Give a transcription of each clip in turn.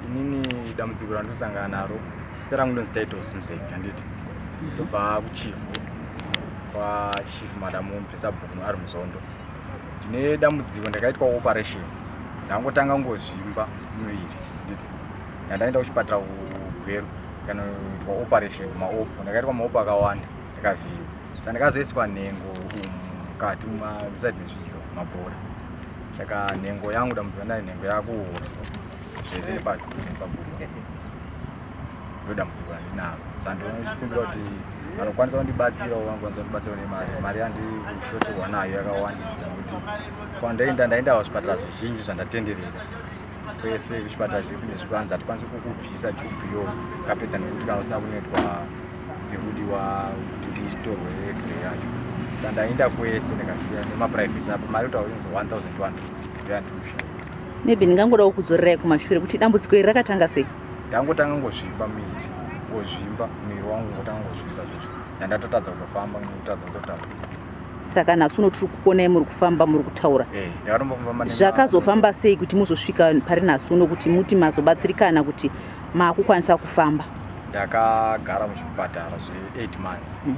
inini dambudziko randosangana naro zita rangu ndonzi titles museki handiti mhm. ndobva kuchifu kwachief madam mpisabhuku ari muzondo ndine dambudziko ndakaitwa operation ndangotanga ngozvimba muviri handiti yandaenda kuchipatara kugweru kanoitwa operation maopo ndakaitwa maopo akawanda ndakavhiiwa saka ndakazoiswa nhengo umu mukati muzati mezvidyo mabhora saka nhengo yangu damudzi vandai nhengo yako zvese nepasi tose nepaguru ndo dambudziko randinaro sandinochikumbira kuti vanokwanisa kundibatsirawo vanokwanisa kundibatsirawo nemari mari yandishoterwa nayo yakawandisa nokuti kwandaenda ndaenda kuzvipatara zvizhinji zvandatenderera kwese kuchipatara zvepi nezvepi vanzi hatikwanisi kukubvisa chubu yo kapedza nekuti kana usina kunoitwa nekudiwa kuti nditorwe x-ray yacho sa ndaenda kwese ndakasiya nemaprivate apo mari kutaura inzi 1200 ndoyandiusha maybe ndingangodawo kudzorerai kumashure kuti dambudziko iri rakatanga sei ndangotanga ngozvimba miri ngozvimba miri wangu ngotanga ngozvimba zvozvo nandatotadza kutofamba ngotadza kutotaura saka nhasi uno tiri kukonai muri kufamba muri kutaura eh, zvakazofamba sei kuti muzosvika pari nhasi uno kuti muti mazobatsirikana kuti maakukwanisa kufamba ndakagara muchipatara zve8 months hmm.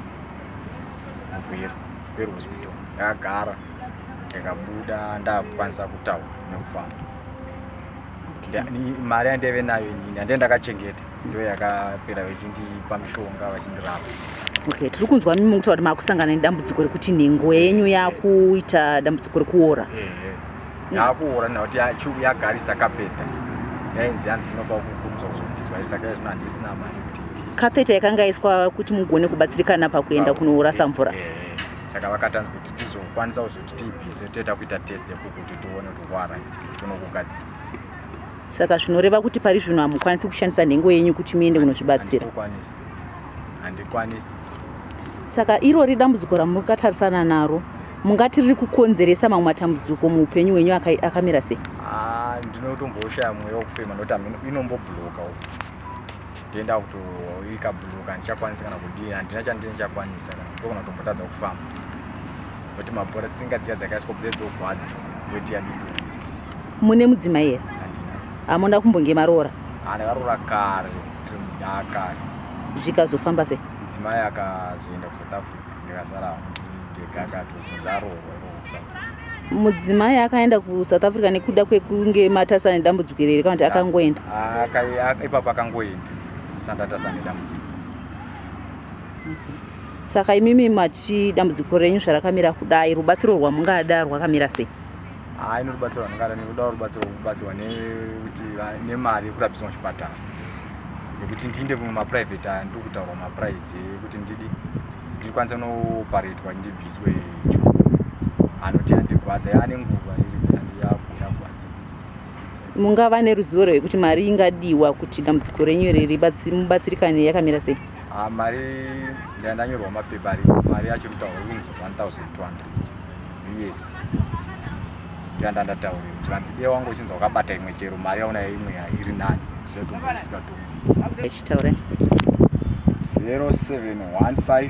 mugweru gweru hospital ndakagara ndikabuda ndakukwanisa kutaura nekufamba mari yandaive nayo inini handei ndakachengeta ndo yakapera vechindipa mishonga vachindirapa okay tiri kunzwa mimi kutaura kuti maakusangana nedambudziko rekuti nhengo yenyu yakuita dambudziko rekuora yakuora nekuti yagarisa kapeta yainzi yanzi inofanira kukurudzwa kuzobviswa isaka izvino handisina mari kuti kapeta yakanga yaiswa kuti mugone kubatsirikana pakuenda kunourasa mvura saka vakatanzi kuti tizokwanisa kuzoti tibvise toita kuita test yekuti tione kuti wara tonokugadzira saka zvinoreva kuti pari zvino hamukwanisi kushandisa nhengo yenyu kuti muende kunozvibatsira handikwanisi saka irori dambudziko ramuri katarisana naro mungati riri kukonzeresa mamwe matambudziko muupenyu hwenyu akamira sei ah, ndinotomboshaya mweya wekufema nokuti inombobhuroka ndienda kutoika buluka handichakwanisi kana kudii handina chandii ndichakwanisa kana ndogona kutombotadza kufamba kuti mabhora tsinga dziya dzakaiswa bzee dzogwadza weti yadido mune mudzimai here hamuna kumbonge maroora andakarora kare tiri mudakare zvikazofamba sei mudzimai akazoenda kusouth africa ndikasara ndega akatobvunza aroorwa mudzimai akaenda kusouth africa nekuda kwekunge matasa nedambudziko ireri kana kuti ah, akangoenda ah, ipapo akangoenda sandatasa nedambudziko saka imimi mati dambudziko renyu zvarakamira kudai rubatsiro rwamungada rwakamira sei haa ino rubatsiro rwamungada nekudawo rubatsiro kubatsirwa nekuti nemari yekurapisa muchipatara nekuti ndiinde kumwe maprivate aya ndiri kutaurwa maprice ekuti ndidi ndikwanisa nooparetwa ndibviswe anoti andigwadza yaane nguva mungava neruzivo rwekuti mari ingadiwa kuti dambudziko renyu riri mubatsirikane yakamira sei ah, mari ndandanyorwa mapepa ari mari yacho rutauro inzi 1200 yes ndanda ndataurira kuti vanzi dee wangu uchinzi wakabata imwe chero mari yaona imwe iri nani zvinotumba usikatumbi achitaura 0715